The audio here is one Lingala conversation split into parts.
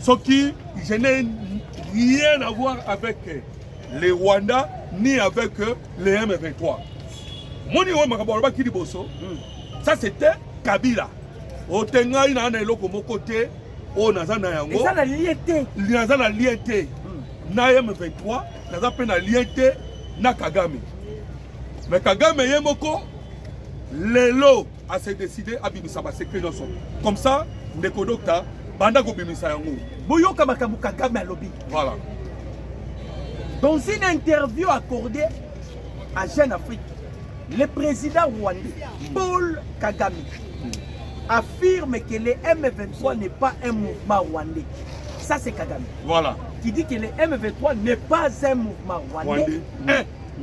soki je n'ai rien à voir avec euh, le Rwanda ni avec euh, le M23 moni oyo makambo alobaki liboso hmm. ça c'était Kabila ote ngai naa na eloko moko te oyo naza na yango naza na lien te hmm. na M23 naza mpe na lien te na Kagame me Kagame ye moko lelo a se décider abimisa ba secret nyonso comme ça ndeko docta banda kobimisa yango boyoka makambo kagame alobi voilà dans une interview accordée à jeune afrique le président rwandais paul kagame affirme que le m23 n'est pas un mouvement rwandais ça c'est kagame voilà qui dit que le m23 n'est pas un mouvement rwandais, rwandais. Mmh.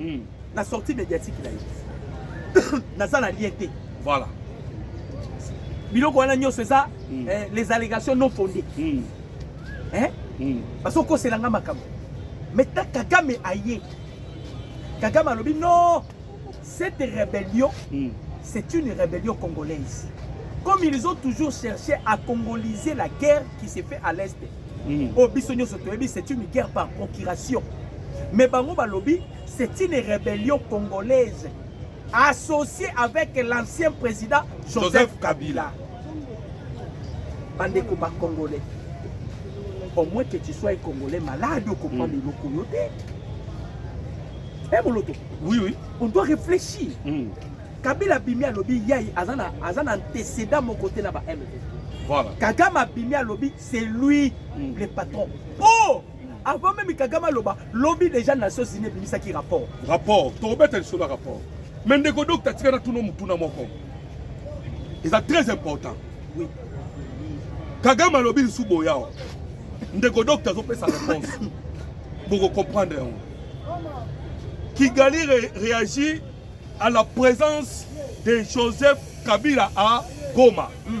mm. na sortie médiatique na ye naza na lien te voilà biloko wana nyonso eza mm. eh, les allégations non fondées mm. eh? mm. bazokosela nga makambo mais ta kagame aye kagame alobi non cette rébellion mm. c'est une rébellion congolaise comme ils ont toujours cherché à congoliser la guerre qui s'est fait à l'est mm. oyo biso nyonso toyebi c'est une guerre par procuration mais bango balobi c'est une rébellion congolaise associée avec l'ancien président joseph, joseph kabila bandeko bacongolais au moins que tu sois congolais malade okomprendre mm. eloko yo te e moloto oui oui on doit réfléchir mm. kabila abimi alobi yai aza na antecédent moko te na ba mv voilà. kagame abimi alobi c'est lui mm. le patron oh avant même kagame aloba lobi déjà nations unis ebimisaki rapport rapport tokobeta lisolo ya rapport mais ndeko dok tatika na tuno motuna moko eza très important oui. kagame alobi lisu boya wa ndeko dok tazopesa réponse bokocomprendre yango kigali re réagit à la présence de joseph kabila à goma mm.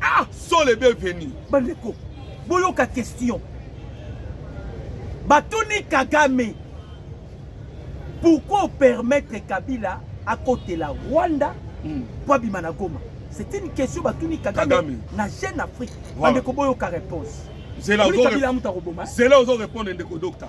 Ah, sont les bienvenus. Bandeko, boyoka question. Batuni Kagame, pourquoi permettre Kabila à côté la Rwanda hmm. pour abima na Goma C'est une question batuni Kagame, Kagame. na Jeune Afrique. Voilà. Bandeko boyoka réponse. Zela ozo répondre ndeko docteur.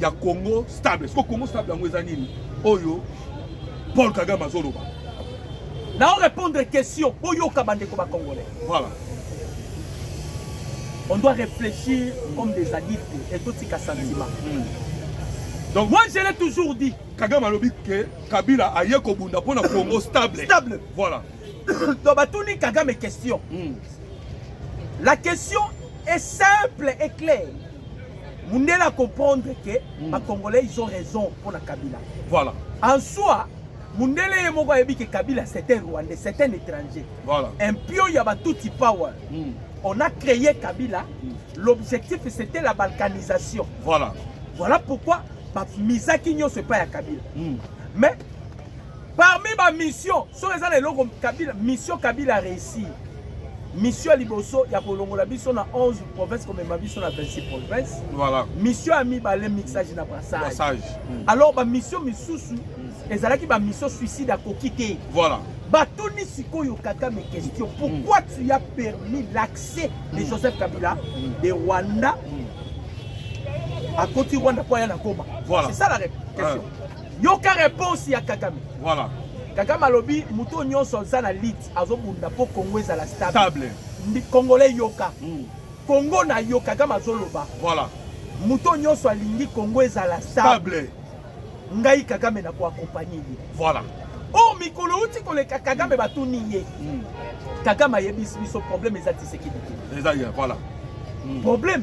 ya congo stable siko congo stable yango eza nini oyo paul kagame azoloba nao répondre question boyoka bandeko bacongolais voilà on doit réfléchir comme des adultes et totika sentiment mm. donc moi je l'ai toujours dit kagame alobi ke kabila aye kobunda mpo na congo stable stable voilà donc batuni kagame question mm. la question est simple et claire mundele a comprendre que mm. ba congolais ils ont raison pour la kabila voilà en soi mundele ye moko ayebi que kabila c'est un rwandais c'est un étranger voilà un pion ya batuti power mm. on a créé kabila mm. l'objectif c'était la balkanisation voilà voilà pourquoi bamisaki nyonso epai ya kabila mm. mais Parmi ba mission soki eza na eloko Kabila mission Kabila réussir mission ya liboso ya kolongola biso na 11 province komema biso na 26 province voilà. mission ya mibale mixage na brassage mm. alors bamission misusu mm. ezalaki bamission suicide akoki te voilà. batuni sikoyo kakame question mm. pourquoi mm. tu as permis l'accès de mm. joseph kabila mm. de rwanda mm. akoti rwanda mpo aya na goma voilà. c'est ça la question ah. yoka reponse ya kagame voilà. kagame alobi moto oyo nyonso aza na lite azobunda mpo kongo ezala stable congolais yoka mm. kongo na yo kagame azoloba voilà. moto oyo nyonso alingi kongo ezala stable ngai kagame na koakompanye ye voilà. o oh, mikolo uti koleka kagame batuni ye mm. kagame ayebisi biso problème eza tisekedi te voilà. mm. problème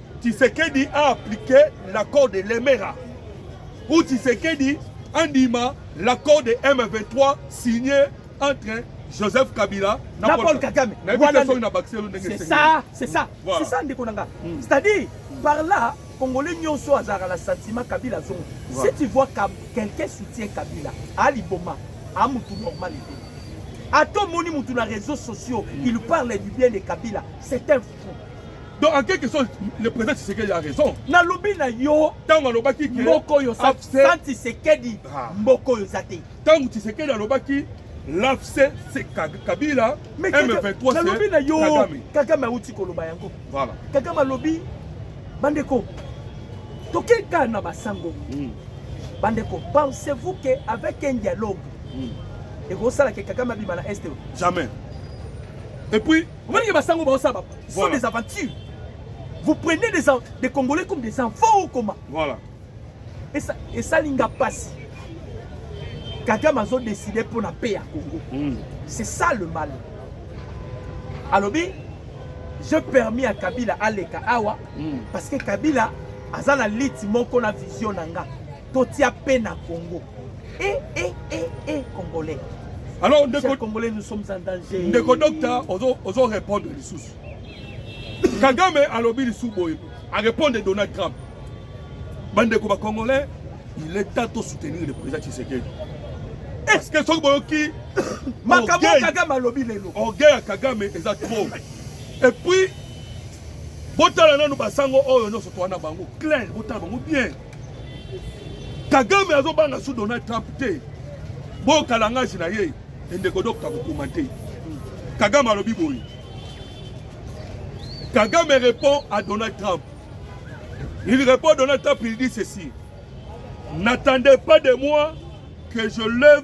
Tshisekedi a appliqué l'accord de Lemera ou Tshisekedi andima l'accord de M23 signé entre Joseph Kabila na, na Paul Kagame. C'est ça, c'est ça. Voilà. C'est ça ndeko nanga. Mm. C'est-à-dire par là Congolais nyonso azalaka na sentiment Kabila azongo. Voilà. Si tu vois quelqu'un soutient Kabila, Ali Boma, a mutu normal. Ato moni mutu na réseaux sociaux, mm. il parle du bien de Kabila. C'est un Donc en quelque sorte, le président Tshisekedi a raison. Nalobi na yo tango alobaki que mboko yo sa Tshisekedi ah. mboko yo zate. Tango Tshisekedi alobaki l'AFC c'est Kabila mais M23 nalobi na yo Kagame auti koloba yango. Voilà. Kagame alobi bandeko tokeka na basango. Mm. Bandeko pensez-vous que avec un dialogue mm. ekosala ke Kagame abima na Est? Jamais. Et puis Omoni ke basango baosala ba sont des aventures. Vous prenez des, des Congolais comme des enfants ou comment Voilà. Et ça, et ça linga passe. Kagame azo décidé pour la paix à Congo. Mm. C'est ça le mal. Alors, bien, je permis à Kabila aleka awa mm. parce que Kabila aza na lit moko na vision nanga. Totia pe na Congo. Eh eh eh eh congolais. Alors ndeko congolais nous sommes en danger. Ndeko docteur ozo ozo répondre lisusu. Kagame alobi lisusu boye. A répondre Donald Trump. Bandeko ba congolais, il est temps de soutenir le président Tshisekedi. Est-ce que soki boyoki makambo Kagame alobi lelo. Orgueil ya Kagame eza trop. Et puis botala nanu basango oyo nyonso towana bango clair botala bango bien Kagame azobanga su Donald Trump te bo kalangasi na ye endeko dokta kokoma te Kagame alobi boye Kagame répond à Donald Trump il répond Donald Trump il dit ceci n'attendez pas de moi que je lève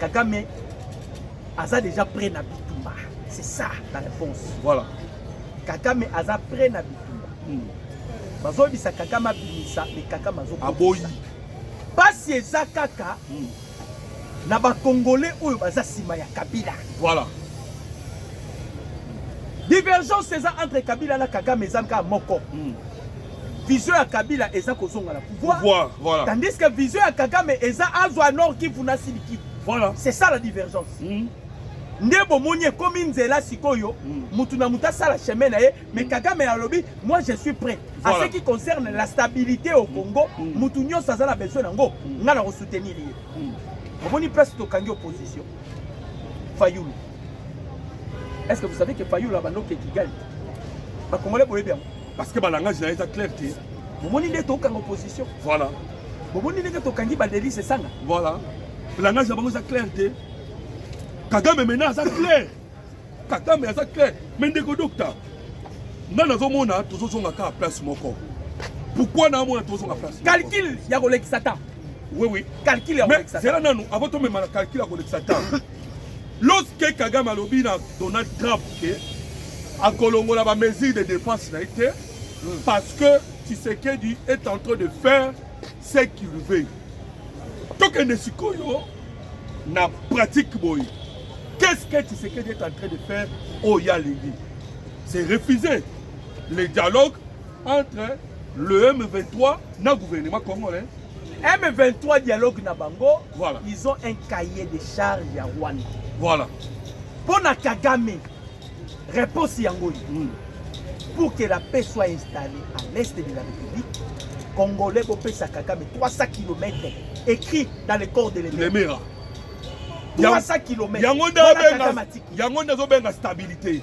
Kagame aza déjà prêt na bitumba. C'est ça la réponse. Voilà. Kagame aza prêt na bitumba. Hmm. Bazoyebisa Kagame abimisa mais Kagame azobimisa. Aboyi. Pasi eza kaka hmm. na bakongole oyo baza nsima ya Kabila. Voilà. Divergence eza entre Kabila na Kagame eza kaka moko. Hmm. vision ya kabila eza kozonga na pouvoir, pouvoir voilà. tandis que vision ya kagame eza azwa nord kivu na sud kivu voilà. c'est ça la divergence mm. nde bomoni ekomi nzela sikoyo motu mm. na motu asala chemin na ye mais mm. kagame alobi moi je suis prêt voilà. à ce qui concerne la stabilité au mm. congo motu mm. nyonso aza na besoin nango mm. ngai na kosoutenir ye mm. omoni place tokangi opposition fayulu est ce que vous savez que fayulu abandokeki gali bakongole boyebi yango parce que balangage na ye eza clair te bomoni nde tokanga opposition voilà bomoni ndenge tokangi badelise esanga voilà langage na bango eza clair te kagame mena aza clair kagame aza clair me ndeko dokta nga nazomona tozozonga kaka place moko pourkui naamona tozonga place calcul ya kolekisa temps oui oui calcul ya kolekisa temps zela nanu avant tomema na calcul ya kolekisa temps Lorsque Kagame alobi na Donald Trump que akolongola ba mesures de défense na ye te parce que Tshisekedi est en train de faire ce qu'il veut. Tokende sikoyo na pratique boye. Qu'est-ce que Tshisekedi est en train de faire au Yalingi C'est refuser le dialogue entre le M23 na gouvernement congolais M23 dialogue na bango voilà. Ils ont un cahier de charge ya Rwanda voilà. Mpo na Kagame réponse yango oyo mm. pour que la paix soit installée à l'est de la République congolais bopesa Kagame 300 km écrit dans le corps de l'Emera 300 km yango nde azobenga stabilité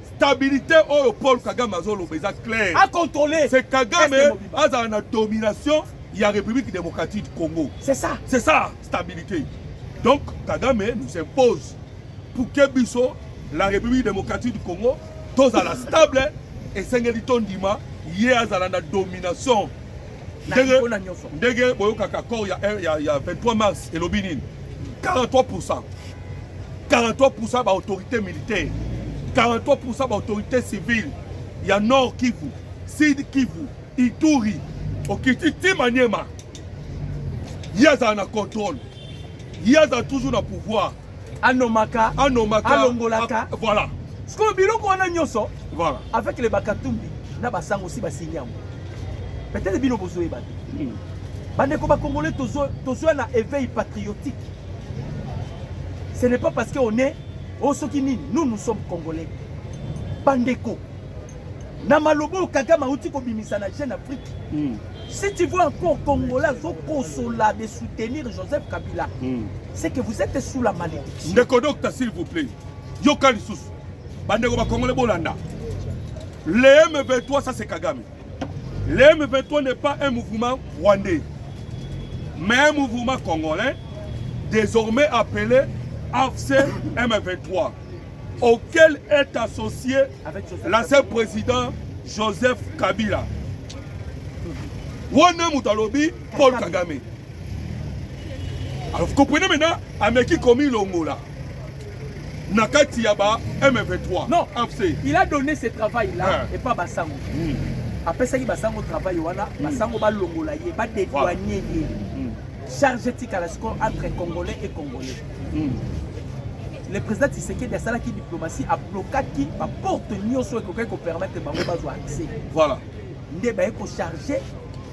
stabilité oyo paul kagame azoloba eza clair acontrole c'est kagame azala na domination ya république démocratique du congo c'est ça c'est ça stabilité donc kagame nous impose pour que biso la république démocratique du congo tozala stable esengeli tondima ye azala na domination ndenge boyokaka accord ya, ya, ya 23 mars elobi nini 43 pourcent 43 pourcent baautorité militaire 43 pourcent baautorité civile ya nord kivu sud kivu ituri okiti ti maniema ye azala na contrôle ye azala toujours na pouvoir anomaka anomaka alongolaka ah, voilà sikoyo biloko wana nyonso voilà avec le bakatumbi na basango si basingi yango peut-être bino bozoyeba te hmm. bandeko bakongolais tozwa na éveil patriotique ce n'est pas parce que on est oyo oh, soki nini nous nous sommes congolais bandeko na maloba oyo kagame auti kobimisa na jeune afrique mm. si tu vois encore congolais azokosola de soutenir joseph kabila mm. c'est que vous êtes sous la malédiction ndeko docta s'il vous plaît yoka lisusu bandeko bakongole bolanda le m23 ça c'est kagame le m23 n'est pas un mouvement rwandais mais un mouvement congolais désormais appelé afc m23 auquel est associé l'ancien président Joseph Kabila. Wana moto alobi Paul Kagame. Alors vous comprenez maintenant ameki komi longola na kati ya ba M23. Non, AFC. Il a donné ce travail là hein. et pas Basango. Oui. apesaki basango travail wana hmm. basango balongola ye badédoigne ye hmm. charge etikala sikoyo entre congolais et congolais hmm. le président Tshisekedi asalaki diplomatie ablokaki baporte nyonso ekokaki kopermettre bango bazwa accès voilà nde baye kocharge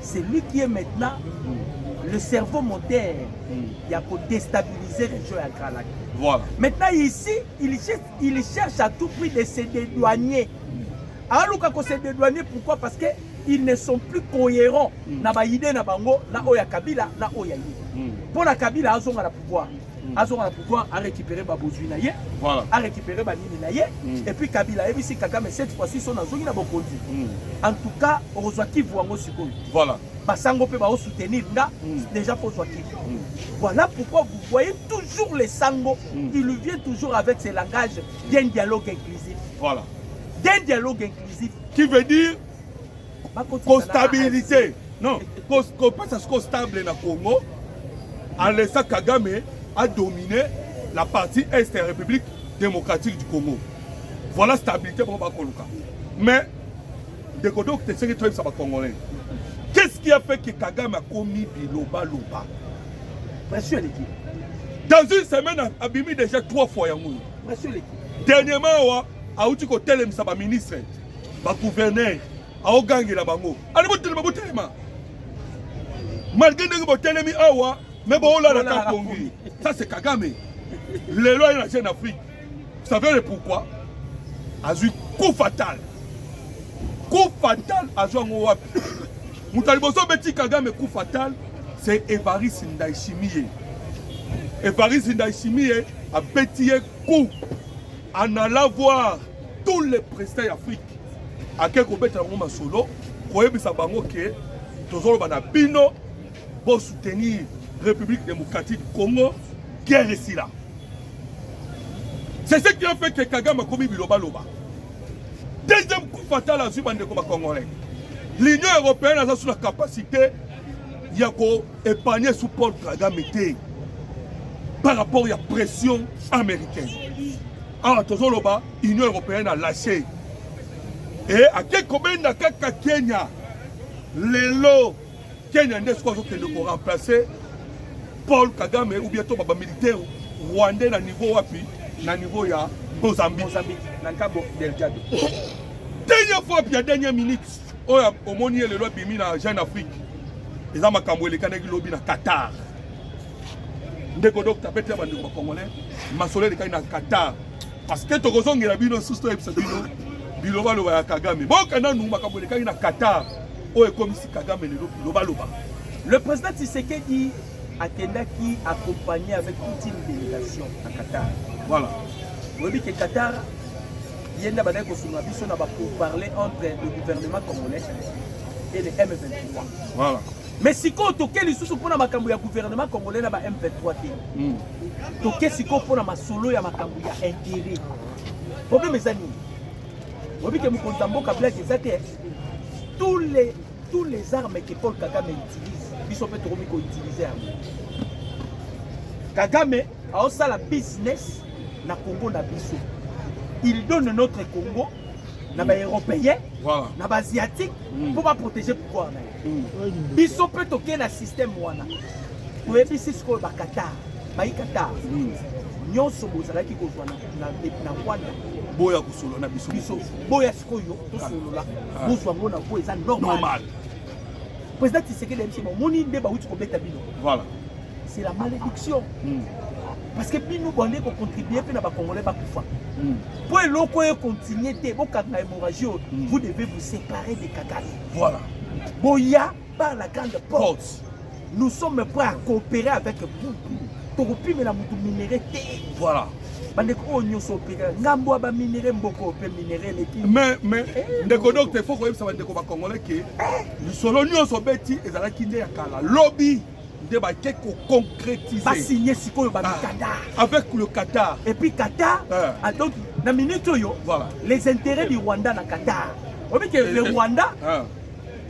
celui qui est maintenant mm. le cerveau moteur mm. ya kodestabiliser région ya grand lac voilà. maintenant ici il cherche, il cherche à tout prix de se dédouaner mm. aluka ko se dédouaner pourquoi parce que ils ne sont plus cohérents mm. na baide na bango na oyo ya kabila na oyo ya ye mpo mm. na kabila azonga na pouvoir azonga na pouvoir a récupérer ba bozui na ye voilà. a récupérer ba nini na ye mm. et puis Kabila ayebisi Kagame cette fois-ci son azongi na bokonzi mm. en tout cas okozwa kivu yango sikoyo voilà basango mpe bao soutenir nga mm. déjà kozwa kivu mm. voilà pourquoi vous voyez toujours les sango mm. il vient toujours avec ses langages d'un dialogue inclusif voilà d'un dialogue inclusif qui veut dire kostabilite non kopesa siko stable na congo alesa kagame adomine la partie est ya république démocratique du congo voilà stabilité bango bakoluka mais ndeko donc tesenge toyebisa bacongolais qu'est ce qui a fait que kagame akomi bilobaloba pression eleki dans une semaine abimi déjà trois fois yango oyo pression eleki dernièrement awa auti kotelemisa baministre ete ba gouverneur aogangela bango ali botelema botelema malgre ndenge botelemi awa me boolala ka pongi ça c'est kagame lelo aye na jeune afrique savez le pourquoi azwi coup fatal coup fatal azwi yango wapi moto ya liboso obeti kagame coup fatal c'est evaris ndaishimie evaris ndaishimie abeti ye coup en allant voir tous les présidents ya afrique ake kobeta yango masolo koyebisa bango ke tozoloba na bino bosoutenir république démocratique du congo guerre esila c'est ce qui a fait que kagame akomi bilobaloba deuxième coup fatal azwi bandeko bacongolais l'union européenne aza sous la capacité ya koépargne sous paul kagame te par rapport ya pression américaine awa tozoloba union européenne alase e eh, ake kobenda kaka kenya lelo kenya nde soki azokende koremplace paul kagame ou bien to baba militaire rwandais na niveau wapi na niveau ya mozambique na cabo delgado dernière fois puis ya dernière minute oyo omoni ye lelo abimi na jeune afrique eza makambo elekanaki lobi na qatar ndeko docteur bete ya bandeko bacongolais masolo elekaki na qatar parce que tokozongela bino susu toyebisa bino bilobaloba ya kagame boka nanu makambo elekaki na qatar oyo ekomisi kagame lelo bilobaloba le président tisekedi akendaki accompagné avec toute une délégation na qatar voilà oyebi ke qatar ye nde abandaki kosunga biso na bapourparler entre le gouvernement congolais et le m23 voilà Mais sikoyo toke lisusu mpo na makambo ya gouvernement congolais na ba M23 te. Mm. Toke sikoyo mpo na masolo ya makambo ya intérêt. Problème eza nini? Oyebi ke mokonzi ya mboka blague eza te. Tous les tous les armes que Paul Kagame utilise, biso mpe tokomi ko utiliser yango. Kagame aosala business na Congo na biso. Il donne notre Congo na ba européen na ba asiatique mm. mpo baprotege pouvoir na ye mm. biso mpe tokei na système wana toyebisi sikoyo bakatar bayi katar mm. nyonso bozalaki kozwa na rwanda boya kosolola na biso biso boya sikoyo tosolola ah. ah. bozwa ngo na po eza normal Président Tshisekedi ayebi ba moni nde ba wuti ko beta bino. Voilà. C'est la malédiction. Mm. Parce que bino bande ko contribuer pe na ba congolais ba kufa. Mm. Po eloko e continuer te bo kanga hémorragie, mm. vous devez vous séparer de Kagame. Voilà. Boya par la grande porte. porte. Nous sommes prêts à coopérer avec vous. Tokopimela mutu minerais te. Voilà. bandeko oyo nyonso opekela ngambo ya baminere mboko mpe minere eleki mais mais eh, ndeko docte fo koyebisa bandeko bacongolais ke eh. lisolo nyonso obeti ezalaki nde ya kala lobi nde bake koconcrétise basigne sikoyo bamikatar ah, avec le qatar et puis qatar ah. ah, donc na minute oyo voilà. les intérêts du rwanda na qatar obi ke le rwanda ah.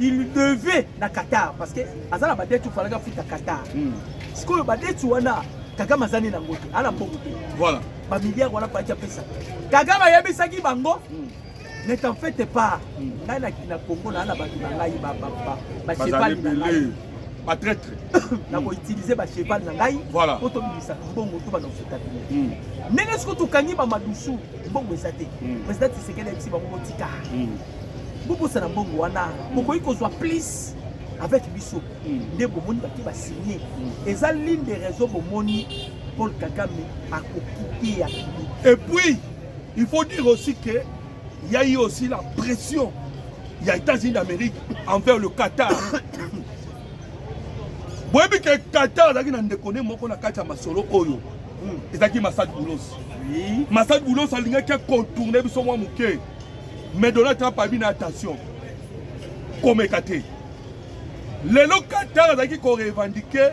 il devait na Qatar parce que aza na badeti ofalaki afuta Qatar hmm. sikoyo badeti wana Kagame azali na yango te ana mbongo te voilà bamilliard wana paki apesa Kagame ayebisaki bango hmm. ne t'en fete pas hmm. ngai na Congo naa na bato na ngai bachevali na ngai batraitre nakoutilize bacheval na ngai po tobimisa mbongo to bana kofuta bino ndenge soki tokangi bamadusu mbongo eza te président tisekeli ayebisi bango botika bobosana mbongo wana bokoki kozwa plus avec biso hmm. nde bomoni bake basigne hmm. eza ligne de raison bomoni paul kagame akokite ya kili et puis il faut dire aussi que ya ye aussi la pression ya états-unis d'amérique envers le qatar boyebi ke qatar azalaki na ndeko ne moko na kati ya masolo oyo hmm. ezalaki masad boulos masad boulos alingaki akontourne biso mwa moke Mais Donald Trump a bien attention. Comme écarté. Lelo Qatar azalaki ko revendiquer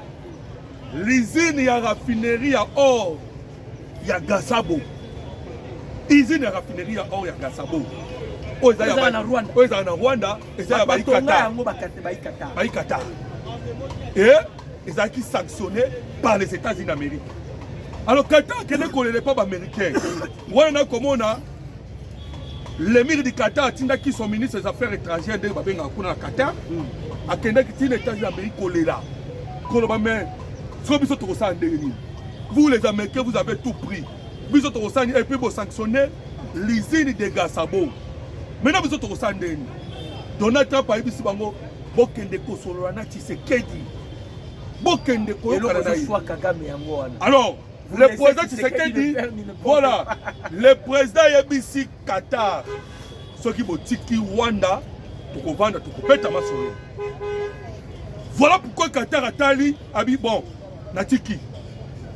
l'usine ya raffinerie ya or ya Gasabo. Usine ya raffinerie ya or ya Gasabo. Oyo ezalaka na Rwanda. Oyo ezalaka na Rwanda, ezalaka ba Qatar. Yango ba Qatar, ba Qatar. Ba Qatar. Et ezalaki sanctionné par les États-Unis d'Amérique. Alors Qatar kende kolela pa ba Américains. Wana nakomona Lemir di Qatar atindaki son ministre des affaires étrangères ndenge babengaka kuna na Qatar hmm. akendaki ntina etats ya Amérique kolela koloba mais soki biso tokosala ndenge nini vous les américains vous avez tout pris biso tokosala nini epuis bosanctionne l'usine de gasabo maintenant biso tokosala ndenge nini donald trump ayebisi bango bokende kosolola na tshisekedi bokende koyokana na ye alors Le président Tshisekedi, voilà, le président yebisi Qatar soki botiki Rwanda tokovanda tokobeta masolo. Voilà pourquoi Qatar atali abi bon natiki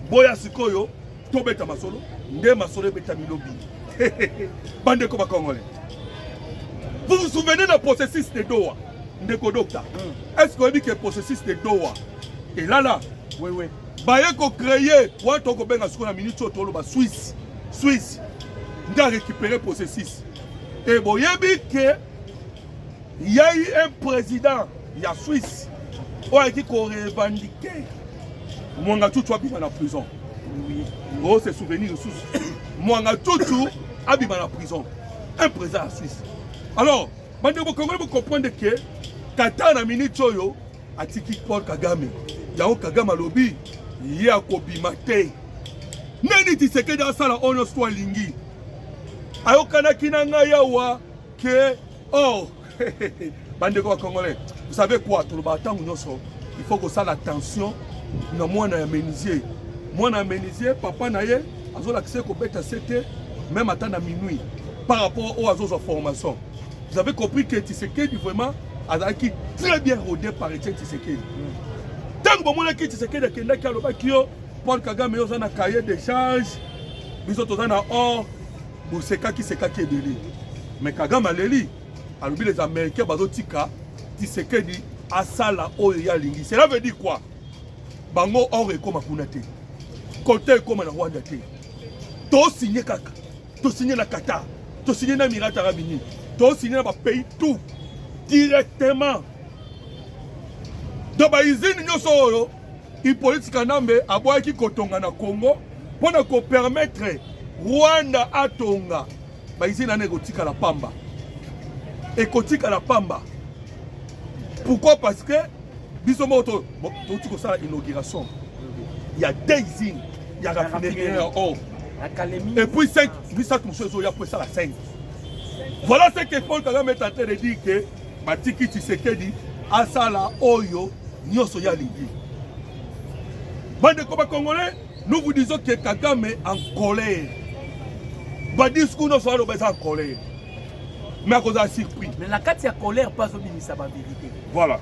boya sikoyo tobeta masolo nde masolo ebetami lobi bandeko bakongole vous vous souvenez na processus de Doha ndeko docta mm. est ce que oyebi ke processus de Doha elala oui, oui. baye ko créer wana tokobenga sikoyo na minute oyo toloba swisse swisse nde arécupere processus e boyebi ke yai un président ya swisse oyo ayaki korevandike mwanga cucu abima na prison o se souvenir lisusu mwanga cucu abima na prison un président ya swisse alors bandeko bokongoli bocomprendre ke kata na minute oyo atiki Paul Kagame yango Kagame alobi ye akobima te nani Tshisekedi asala oyo nyonso alingi ayokanaki na ngai awa ke or oh, bandeko ya congolais vous savez quoi tolobaka ntango nyonso il faut kosala attention na mwana ya menuisier mwana ya menuisier papa na ye azolakisa ye kobeta sete meme ata na minuit par rapport oyo azozwa formation Vous avez compris que Tshisekedi vraiment azalaki très bien rodé par Etienne Tshisekedi. Tango bomonaki Tshisekedi akendaki alobaki yo Paul Kagame yo oza na cahier d'échange biso toza na or bosekaki sekaki ebele mais Kagame aleli alobi les Américains bazotika Tshisekedi asala oyo ye alingi. Cela veut dire quoi? Bango or ekoma kuna te, kote ekoma na Rwanda te, tosigne kaka Tosigne na Qatar, tosigne na Emirats Arabes Unis, tosigne na ba pays tout directement. Donc ba usine nyonso oyo Hippolyte Kanambe aboyaki kotonga na Congo mpo na kopermettre Rwanda atonga ba usine wana ekotikala pamba, ekotikala pamba. Pourquoi? Parce que biso moko to bo- touti kosala inauguration ya daising ya raffinerie ya or na kalemi et puis 5 misato mosusu ezoya mpo esala 5 voilà ce que paul kagame est en train de dire que batiki tshisekedi asala oyo nyonso ye alingi bandeko bacongolais nous vous disons que kagame en colère badiscours nyonso aloba eza en colère mais akozala surpris mais na kati ya colère mpe azobimisa baverité voilà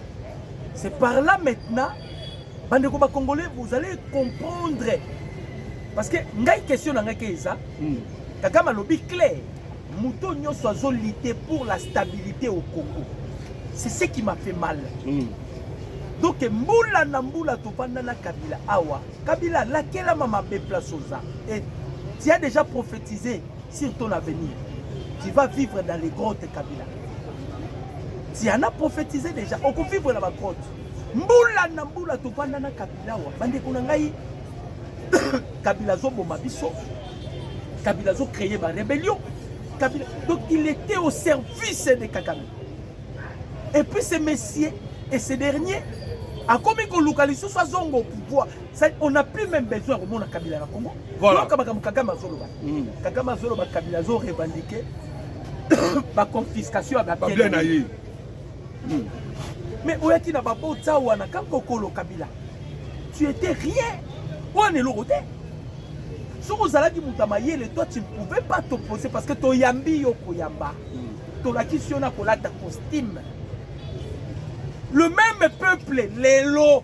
c'est par là maintenant bandeko bacongolais vous allez comprendre parce que ngai question na ngai ke eza hmm. kagame alobi claire moto nyonso azolite pour la stabilité au congo c'est ce qui m'a fait mal mm. donc mbula na mbula tofanda na kabila awa kabila alakelama mabe place oza et tu as déjà prophétisé Sur ton avenir, tu vas vivre dans les grottes Kabila. Tu en as prophétisé déjà, on vivre dans la grotte. Mbula na mbula topanda na Kabila wa. Bande kuna ngai Kabila zo boma biso. Kabila zo créer ba rébellion. Kabila donc il était au service de Kagame. Et puis ce messieurs et ce dernier akomi koluka lisusu azonga au pouvoir C'est on n'a plus même besoin ya komona kabila na congo Voilà. yoka makambo kagame azoloba Mm. kagame azoloba kabila azo revendique baconfiscation ya Ba bien babien na ye. mais oyaki na babotsa wana ka kokolo kabila tu étais rien wana eloko te soki ozalaki moto ya mayele toi tu ne pouvais pas t'opposer parce que toyambi yo koyamba tolakisi yo na kolata costume le même peuple lelo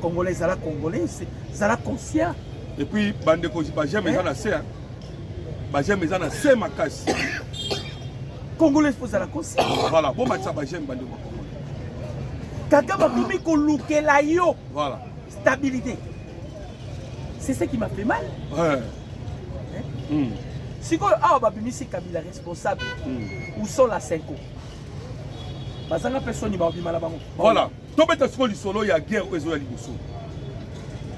Congolais zala congolais, zala conscient. Et puis bande ko ba j'aime eza na se. Hein. Ba j'aime eza na se makasi. Congolais faut zala conscient. Voilà, bon match ba j'aime bande ko. Kaka ba komi ko lukela yo. Voilà. Stabilité. C'est ça qui m'a fait mal. Ouais. Hein? Mm. sikoyo awa babimisi kabila responsable hmm. où sont la senko bazanga mpe soni babima na bango voilà tobeta sikoyo lisolo ya guerre oyo ezoya liboso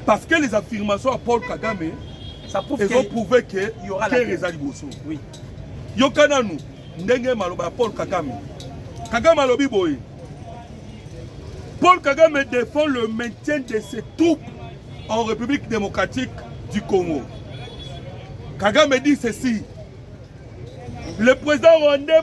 parce que les affirmations ya paul kagame ezoprouve ke guerre eza liboso yoka nanu ndenge maloba ya paul kagame kagame alobi boye paul kagame défend le maintien de ses troupes en république démocratique du congo kagame dit ceci le président rwandais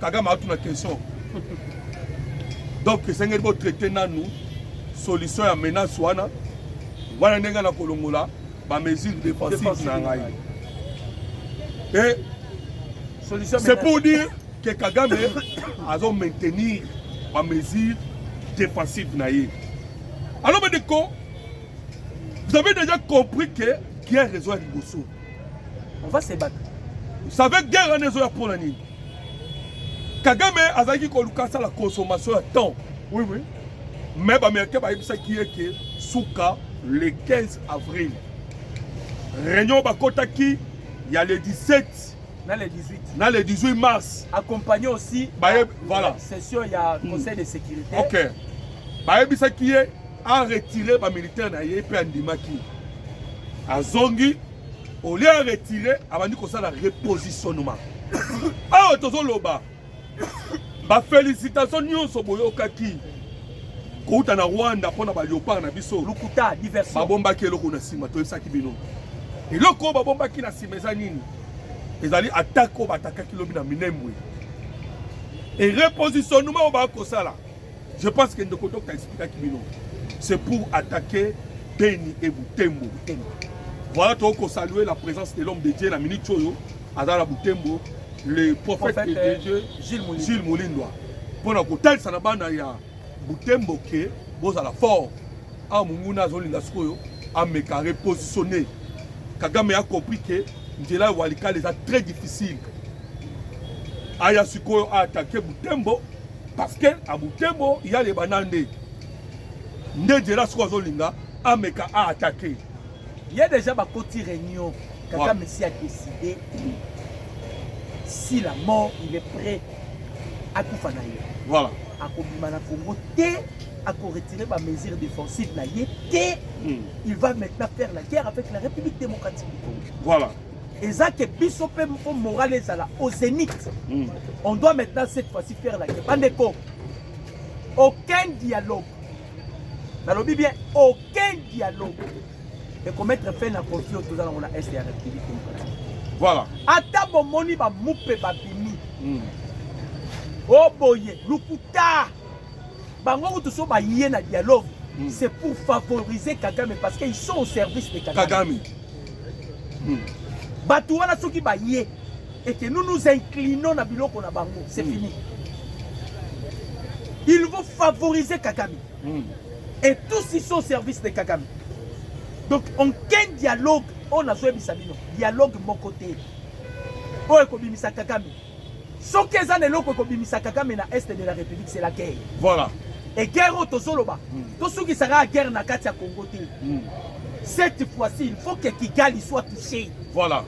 Kagame atu na question. Donc esengeli bo traiter nanu solution ya menace wana wana ndenge na kolongola ba mesures défensives na ngai. Et solution c'est pour dire que Kagame azo maintenir ba mesures défensives na ye. Alors mes déco, vous avez déjà compris que guerre ezo ya liboso. On va se battre. Vous savez guerre wana ezo ya pona nini? Kagame azalaki koluka asala consommation ya temps. Oui, oui. Mais bamericain bayebisaki ye ke suka le 15 avril réunion bakotaki ya le 17 na le 18 na le 18 mars accompagné aussi baye voilà session ya hmm. conseil de sécurité OK bayebisaki ye a retirer ba militaire na ye mpe andimaki azongi au lieu ya retire abandi kosala repositionnement awa tozoloba bafélicitation nyonso boyokaki kouta na rwanda mpo na baleopard na biso lokuta diversion babombaki eloko na nsima toyebisaki bino eloko oyo babombaki na nsima eza nini ezali atake oyo batakaki lobi na minembwe erepositionnement oyo bakosala Je pense que ndeko docteur expliquaki bino. C'est pour attaquer Beni et Butembo. Voilà toi qu'on saluer la présence de l'homme de Dieu la minute Choyo, Adala Butembo, le prophète, prophète de euh, Dieu Gilles Moulindwa. Pour na kotel sana bana ya Butembo ke bozala fort. Ah munguna azolinga sikoyo ameka repositionner. Kagame a compris que nzela walikale eza très difficile. Aya sikoyo a attaquer Butembo parce que a Butembo ya les banande nde Djela siko azolinga ameka a attaquer il y a déjà bakoti réunion kaka ouais. messi a décidé si la mort il est prêt akufa na ye voilà akobima na Congo te ako retirer ba mesures défensives na ye te hmm. il va maintenant faire la guerre avec la République démocratique du Congo voilà eza que biso mpe mpo morale ezala au zénith mm. on doit maintenant cette fois-ci faire la guerre bandeko aucun dialogue nalobi bien aucun dialogue ekomettre fin na conflit oyo toza nango na est ya république démocratique voilà ata bomoni bamupe babimi mm. oboye oh, lokuta bango kutu so baye na dialogue mm. c'est pour favoriser kagame parce qu'ils sont au service de kagame, kagame. Mm. bato wana soki baye et que nous nous inclinons na biloko na bango c'est mm. fini ils vont favoriser kagame mm. et tous ils sont au service de kagame donc aucun dialogue oyo nazoyebisa bino dialogue moko te oyo ekobimisa kagame Soki eza na eloko ekobimisa Kagame na Est de la République, c'est la guerre. Voilà. Et guerre oyo tozoloba, mm. tosukisa kaka guerre na kati ya Congo te. Mm. Cette fois-ci, il faut que Kigali soit touché. Voilà.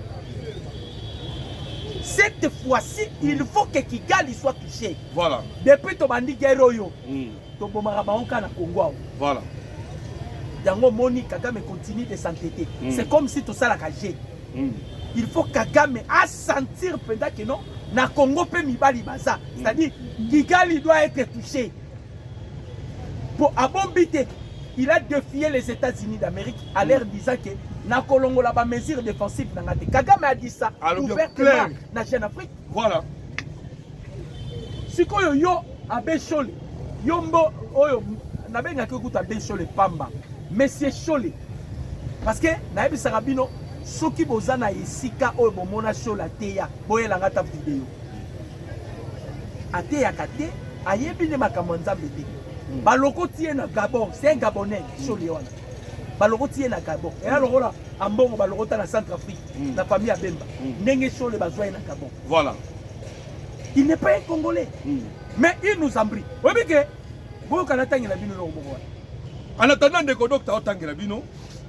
Cette fois-ci, il faut que Kigali soit touché. Voilà. Depuis tobandi guerre oyo. Mm. tobomaka bango kaka na congo awa voilà yango omoni kagame continue de s'entêter mm. c'est comme si tosalaka jeu mm. il faut kagame asentir mpenza ke non na congo mpe mibali baza mm. c'est-à-dire kigali doit être touché mpo abombi te il a défié les états-unis d'amérique à mm. leur disant ke nakolongola bamesure défensive na nga te kagame adisa ouvertement na jeune afrique Voilà. Sikoyo yo Abe Shole, yo mbo oyo nabengaki okuta Abe Shole pamba. Monsieur Shole. Parce que nayebisaka bino soki boza na esika oyo bomona Shole ateya, boyelanga ata video. Ateyaka te, ayebi nde makambo ya Nzambe te. Hmm. Balokoti ye na Gabon, c'est un Gabonais, Shole wana. balokoti ye na gabon eya lokola ambongo balokota na centre afrique mm. na famille ya bemba mm. ndenge shole bazwa ye na gabon voilà il n'est pas un congolais mm. mais il nous embri oyebi ke boyoka natangela bino eloko moko wana en attendant ndeko docteur otangela bino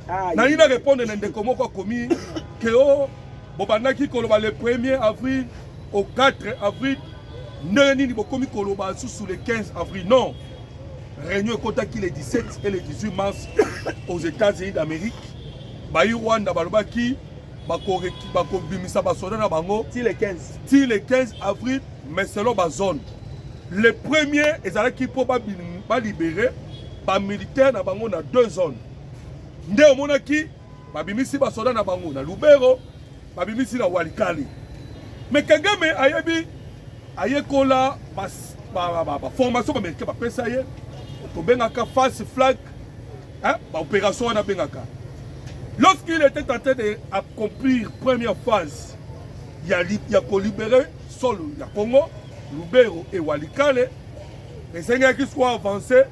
ah, nayi na répondre na ndeko moko akomi ke o oh, bobandaki koloba le 1er avril au 4 avril ndenge nini bokomi koloba susu le 15 avril non Réunion ekotaki le 17 et le 18 mars aux États-Unis d'Amérique. Bayi Rwanda balobaki bakobimisa basoda na bango ti le 15 ti le 15 avril mais selon bazone le premier ezalaki mpo balibere bamilitaire na bango na deux zones nde omonaki babimisi basoda na bango na Lubero, babimisi na Walikale. Me Kagame ayebi ayekola baformation bamericain bapesa ye, tobengaka face flag baopération wana abengaka. Lorsqu'il était en train d'accomplir première phase ya, ya kolibere solo ya Congo, Lubero et Walikale, esengaki siko avance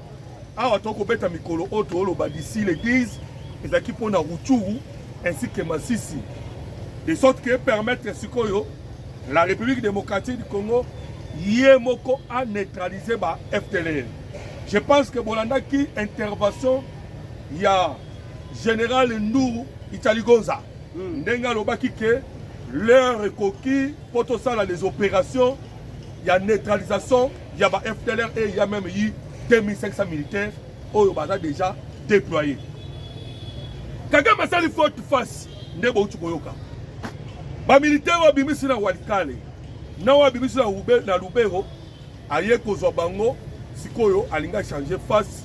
awa to kobeta mikolo oyo tooloba d'ici le 10 ezalaki mpo na Rutshuru ainsi que Masisi de sorte que permettre sikoyo la République démocratique du Congo ye moko a neutraliser ba FTLR je pense que bolandaki intervention ya général Nduru Italigonza hmm. ndenge alobaki ke l'heure ekoki mpo tosala les opérations ya neutralisation ya ba FDLR et il y a même eu 2500 militaires oyo baza déjà déployés. Kagame asali faute face nde bouti koyoka. Ba militaires oyo abimisi na Walikale na oyo abimisi na Lubero aye kozwa bango sikoyo alingi achange face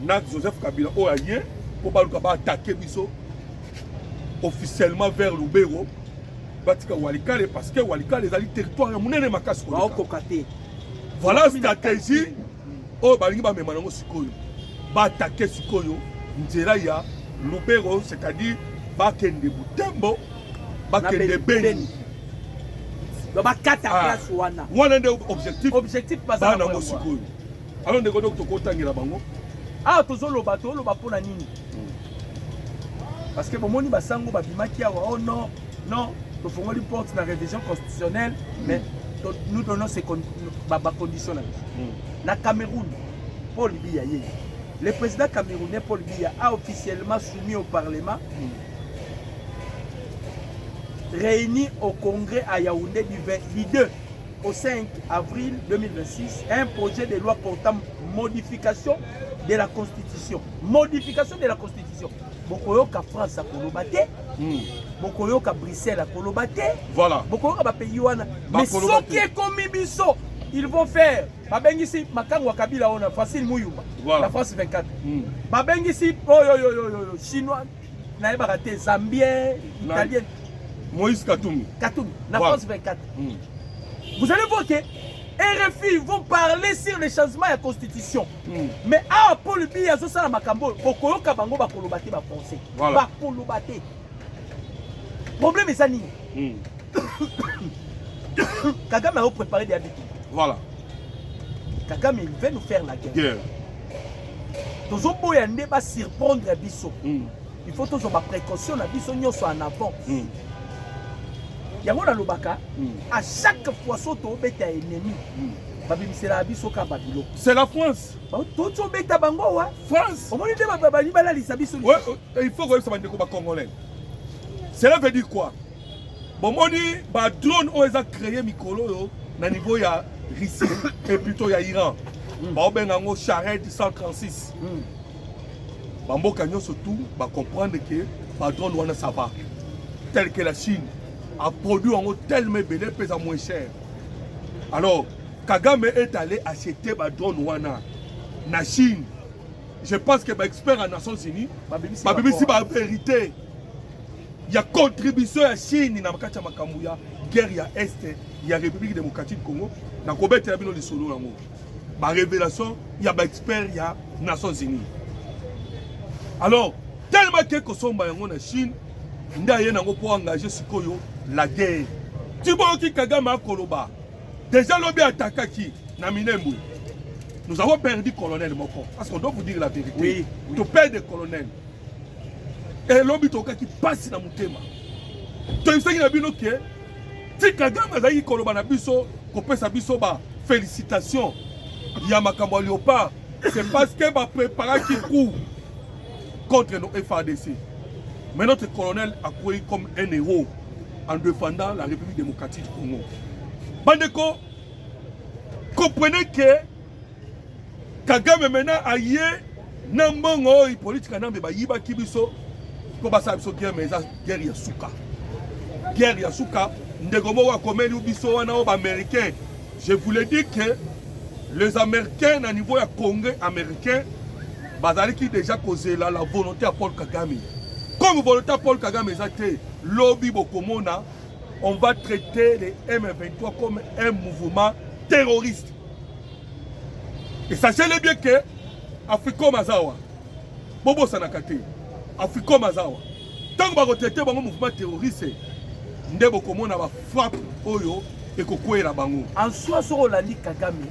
na Joseph Kabila oyo aye mpo baluka baattake biso officiellement vers Lubero batika walikale parce que walikale ezali territoire ya monene makasi baokoka te voilà stratégie oyo balingi bamema nango sikoyo batake sikoyo nzela ya lubero c'est-à-dire bakende butembo bakende beni bakata ah. place wana wana nde objectif objectif baza nango sikoyo Alors ndeko donc tokotangela bango awa tozoloba toloba mpo na nini parce que bomoni basango babimaki awa oh non non tofongoli porte na révision constitutionnelle mais nous donnons ces bacondition na biso na cameroun paul biya ye le président camerounais paul biya a officiellement soumis au parlement réuni au congrès à yaoundé du 22 au 5 avril 2026 un projet de loi portant modification de la constitution modification de la constitution bokoyoka france akoloba te hmm. bokoyoka bruxelles akoloba te voilà. bokoyoka bapays wana mais soki ekomi biso ils vont faire babengisi makango ya kabila oyo na facile muyumba voilà. la france 24 hmm. babengisi oyoyoyoyo oh, chinois nayebaka te zambien italien moïse katumbi katumbi na france 24 hmm. vous allez voir que rfi vont parler sur le changement ya constitution hmm. mais awa paul bi azosala makambo oyo okoyoka bango bakoloba te bafrançais bakoloba te problème eza nini hmm. kagame aoprépare deya bitu voilà kagame il veut nous faire la guerre, guerre. tozoboya nde ba surprendre biso mm. il faut tozwa ba précaution na biso nyonso en avant mm. yango nalobaka mm. à chaque fois so tobeta ennemi mm. babimiselaka biso ka babilo c'est la france toti obeta bango wa france omoni nde babali balalisa biso il faut koyebisa bandeko bacongolais cela veut dire quoi bomoni ba drone oyo eza créer mikolo oyo na niveau ya Russie et plutôt ya Iran mm. baobenga yango Shahed 136 mm. bamboka nyonso tout bacomprendre ke badrone wana ça va tel que la Chine aproduit yango tellement ebele mpe eza moins cher alors kagame est allé acheter badrone wana na Chine je pense que baexpert ya Nations Unies babimisi bavérité ba ya contribution ya Chine na kati ya makambo ya guerre ya est ya République démocratique du Congo na kobetela bino lisolo yango ba révélation ya ba expert ya Nations Unies alors tellement que kosomba yango na Chine nde aye nango mpo engage sikoyo la guerre tiboyoki Kagame akoloba déjà lobi atakaki na Minembwe nous avons perdu colonel moko parce qu'on doit vous dire la vérité oui, oui. to perdre colonel e lobi tokaki pasi na motema toyebisaki na bino ke ti kagame azalaki koloba na biso kopesa biso ba félicitation ya makambo ya léopard c'est parce que bapreparaki coup contre nos FADC mais notre colonel akwei comme un héros en défendant la république démocratique du congo bandeko comprenez que Kagame mena aye na mbongo oyo Hippolyte Kanambe bayibaki biso mpo basala biso guerre, mais eza guerre ya suka, guerre ya suka. Ndeko moko akomeli biso wana oyo baaméricain, je vous le dis que les américains na niveau ya congrès américain bazalaki deja kozela la volonté ya Paul Kagame comme volonté ya Paul Kagame eza te lobi bokomona on va traiter les M23 comme un mouvement terroriste esasiele bien ke africom aza wa bobosanaka te africom aza wa ntango bakotraite bango mouvement terroriste nde bokomona bafrappe oyo ekokwela bango en soi soki olandi kagame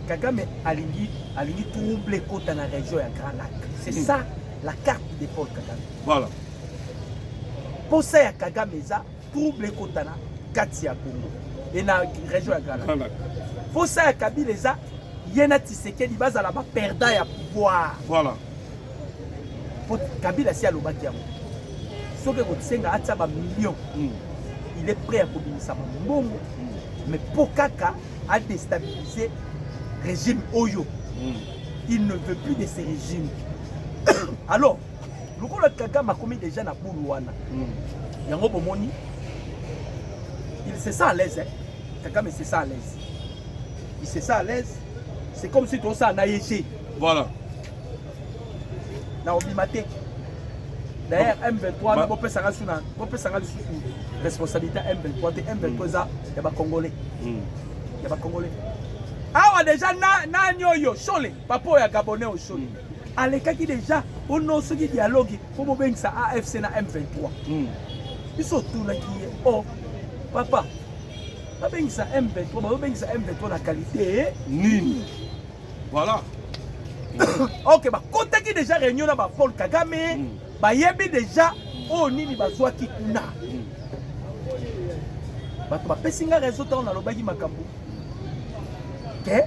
kagame alingi alingi trouble ekota na région ya grand lac c'est mm. ça la carte de paul kagame voilà mposa ya kagame eza trouble ekota na kati ya congo e na région ya galak mposa ya kabila eza ye na tisekedi bazala baperdant ya pouvoir voilà mpo kabila si alobaki yango soki ekosenga atia bamillion mm. il est prêt ya kobimisa bambongo mm. mais mpo kaka adestabilise régime oyo mm. il ne veut plus de ce régime alors lokola kagame akomi deja na bulu wana hmm. yango bomoni il se sent à l'aise hein? kagame se sent à l'aise il se sent à l'aise c'est comme si tosala na ye te voilà na obima te d'ailleurs m23 bopesaka suna bopesaka lisusu responsabilité ya m23 te m23 eza ya bacongolais hmm. ya bacongolais awa deja nani oyo shole papa oyo ya gabonais oyo shole alekaki deja ono soki dialogue mpo bobengisa afc na m23 hmm. biso otunaki ye o oh, papa babengisa m23 bazobengisa m23 na kalite nini voilà ok bakotaki deja réunion na bapaul kagame hmm. bayebi deja oyo oh, nini bazwaki kuna hmm. bato bapesi nga réseau ntango nalobaki makambo te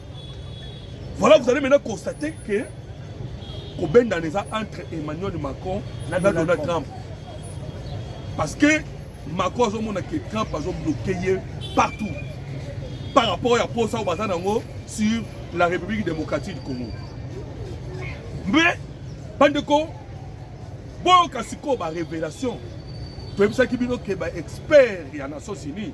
Voilà, vous allez maintenant constater que kobendana eza entre Emmanuel Macron na Donald Trump. Parce que Macron azomona que Trump azobloke ye partout par rapport ya posa oyo baza nango sur la République démocratique du Congo. Mais bandeko boyoka sikoyo ba révélation toyebisaki bino ke ba expert ya nations unis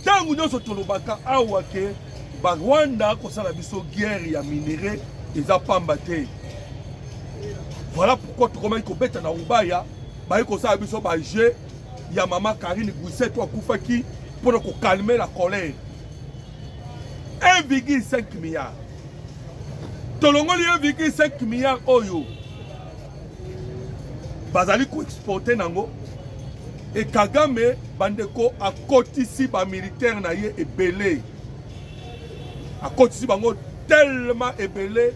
ntango nyonso tolobaka awa ke barwanda kosala biso guerre ya minere eza pamba te voilà pourquoi tokomaki kobeta na rubaya baye kosala biso bajeu ya mama karine guiseto akufaki mpo na kokalme la colère 1,5 milliard tolongoli 1,5 milliard oyo bazali koexporte nango e kagame bandeko akotisi bamilitaire na ye ebele akotisi bango tellement ebele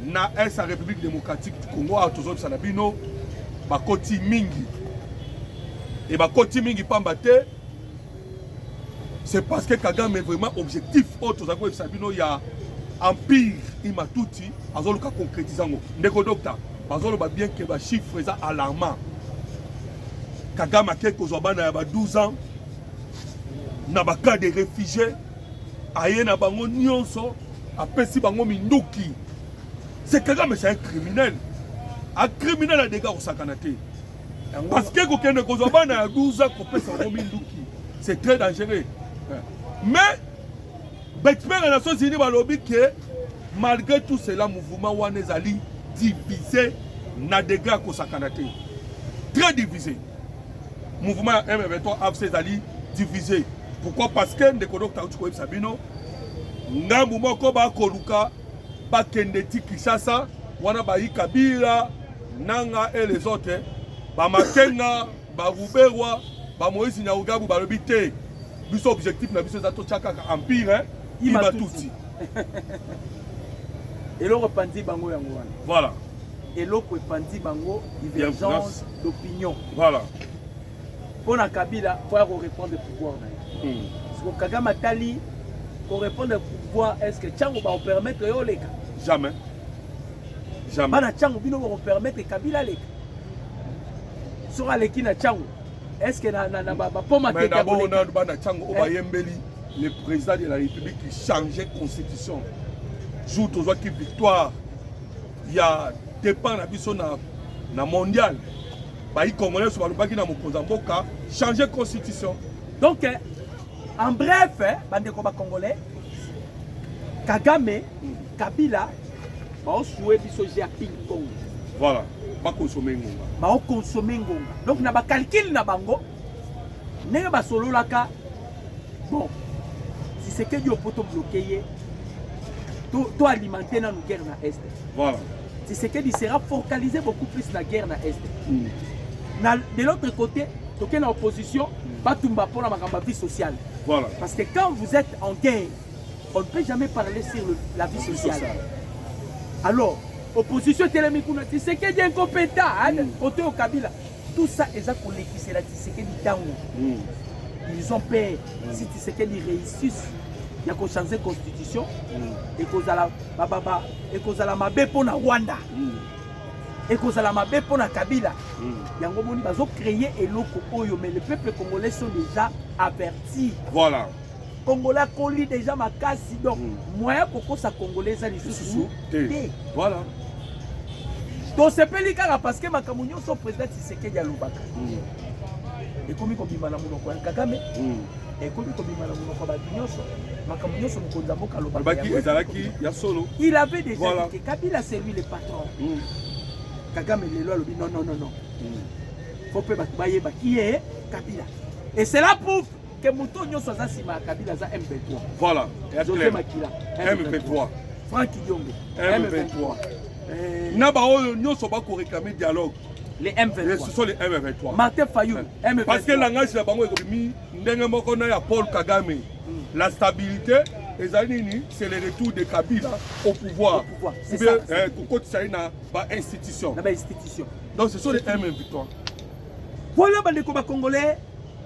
na est ya république démocratique du congo awa tozobisa na bino bakoti mingi e bakoti mingi mpamba te c'est parce que kagame vraiment objectif oyo tozali koyebisa bino ya empire imatuti azoluka concrétise yango ndeko docta bazoloba bien ke bachiffre eza alarmant kagame akei kozwa bana ya ba 12 ans na bacas de réfugié aye na bango nyonso apesi bango minduki se kagame c'est un criminel un criminel adega kosakana te parce que kokende kozwa bana ya 12 ans kopesa yango minduki c'est très dangereux mais baexpert ya nations unis balobi ke malgré tout cela mouvement wana ezali divise na degré ya kosakana te très divisé mouvement ya m23 afc ezali divisé pourquoi parce que ndeko dokta auti koyebisa bino ngambu moko bakoluka bakende ti Kinshasa wana bayi Kabila nanga et les autres ba Makenga ba Ruberwa ba Moïse Nyaugabu balobi te biso objectif na biso eza totya kaka empire hein? iba tutsi eloko epanzi bango yango wana voilà eloko epanzi bango divergence d'opinion voilà mpo na kabila mpo ya korepondre pouvoir na ye hmm. siko kagame atali korepondre pouvoir est ce que ntango baopermettre yo oleka jamais jamais bana ntango bino bakopermettre kabila aleka soki aleki na ntango est ce que bapoma teabona bana ntango oyo bayembeli le président de la république change constitution jour tozwaki victoire ya départ na biso na, na mondial bayi congolais nyonso balobaki na mokonzi ya mboka changer constitution donc eh, en bref eh, bandeko bacongolais kagame kabila baosue biso jeu ya ping pong voilà bakonsome ngonga baokonsome ngonga donc na bacalcule na bango ndenge basololaka bon tisekedi opo tobloke ye toalimente nanu guerre na est voilà. tisekedi sera focalise beaucoup plus na guerre na est mm. na, de l'autre côté toke na opposition mm. batumba mpo na makambo ya vie sociale voilà. parce que quand vous êtes en guerre on ne peut jamais parler sur le, la vie sociale, sociale. alors opposition etelemi kuna tisekedi incompétent kote mm. okabila Tout ça eza kolekisela Tshisekedi ntango. Mm. Ils ont peur mm. si Tshisekedi réussisse ya kochange constitution mm. ekozala bababa ekozala mabe mpo na Rwanda mm. ekozala mabe mpo na Kabila mm. yango boni bazo créer eloko oyo mais le peuple congolais sont déjà avertis. Voilà. Congolais akoli deja makasi donc mm. moyen kokosa Congolais eza lisusu te. Voilà. tosepeli kaka parce que makambo nyonso président Tshisekedi alobaka mm. ekomi kobima na monoko ya Kagame mm. ekomi kobima na monoko ya bato nyonso makambo nyonso mokonzi ya mboka alobaki ezalaki ya solo il avait déjà voilà. dit que kabila c'est lui le patron mm. kagame lelo alobi non non non non mm. faut mpe bato bayeba qui est kabila et cela prouve que moto nyonso aza nsima ya kabila aza m23 voilà jose makila m23 frank diongo m23 eh. na baoyo nyonso bakoreklame dialogue les M23. Ce sont les M23. Martin Fayou, M23. Parce que le langage de Bango est mis ndenge moko na ya Paul Kagame. Hmm. La stabilité ezali nini c'est le retour de kabila au pouvoir eh, kokotisa ye na bainstitution donc ce sont les m victoire voilà bandeko bacongolais